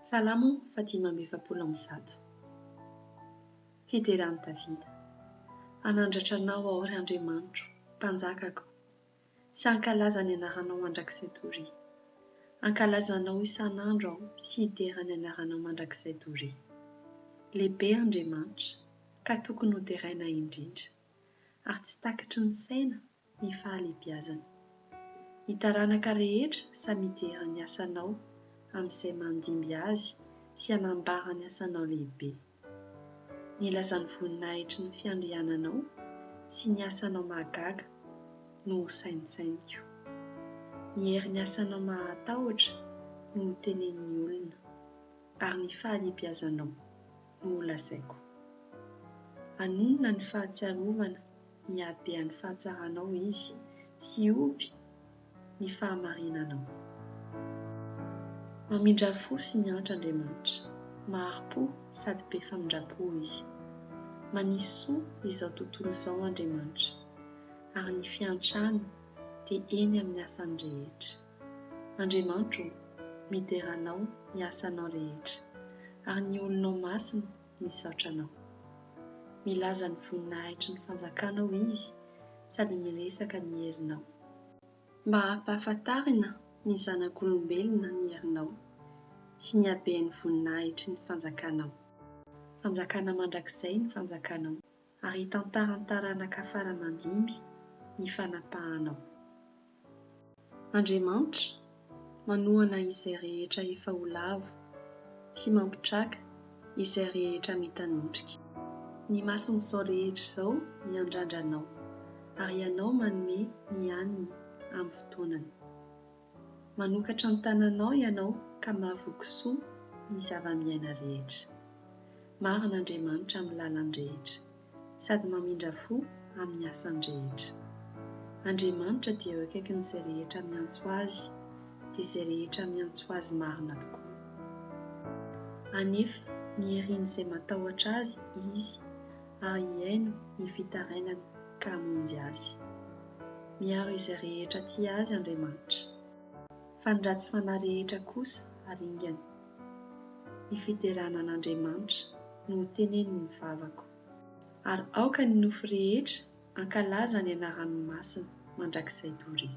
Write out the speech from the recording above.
Salamo fahadimy amby efapolo amby zato Fiderany Davida Hanandratra Anao aho, ry Andriamanitro, Mpanjakako, sy hankalaza ny anaranao mandrakizay doria. Hankalaza Anao isan'andro aho sy hidera ny anaranao mandrakizay doria. Lehibe Andriamanitra, ka tokony hoderaina indrindra, ary tsy takatry ny saina ny fahalebiazana. Ny taranaka rehetra samy hidera ny asanao amin'izay mandimby azy sy hanambara ny asanao lehibe. Nilaza ny voninahitry ny fiandriananao sy ny asanao mahagaga no ho saintsainiko. Ny herin'ny asanao mahatahotra no ho tenenin'ny olona, ary ny fahalebiazanao no ho lazaiko. Anonona ny fahatsiarovana hiabehan'ny fahatsaranao izy, sy hihoby ny fahamarinanao. Mamindrà fo sy miantra Andriamanitra. Mahari-po sady be famindram-po Izy. Manisy soa izao tontolo izao Andriamanitra, ary ny fiantrany dia eny amin'ny asany rehetra. Andriamanitra ô, midera Anao ny asanao rehetra, ary ny olonao masina Misaotra anao. Milaza ny voninahitry ny fanjakanao izy sady miresaka ny herinao. Mba hampahafantarina ny zanak'olombelona ny herinao sy ny haben'ny voninahitry ny fanjakanao. Fanjakana mandrakizay ny fanjakanao. Ary hitantaran'ny taranaka fara aman-dimby ny fanapahanao. Andriamanitra, manohana izay rehetra efa ho lavo, sy mampitraka izay rehetra mitanotrika. Ny mason'izao rehetra izao miandrandra Anao, ary Ianao manome ny aniny amin'ny fotoanany. Manokatra ny tananao ianao ka mahavoky soa ny zava-miaina rehetra. Marina Andriamanitra amin'ny lalany rehetra, sady mamindra fo amin'ny asany rehetra. Andriamanitra dia eo akaikin'izay rehetra miantso Azy, dia izay rehetra miantso Azy marina tokoa. Hanefa ny herin'izay matahotra Azy Izy, ary hihaino ny fitarainany ka hamonjy azy. Miaro izay rehetra tia Azy Andriamanitra, fa ny ratsy fanahy rehetra kosa aringany. Ny fiderana an' Andriamanitra no ho tenenin' ny vavako. Ary aoka ny nofo rehetra hankalaza ny anarany masina mandrakizay doria.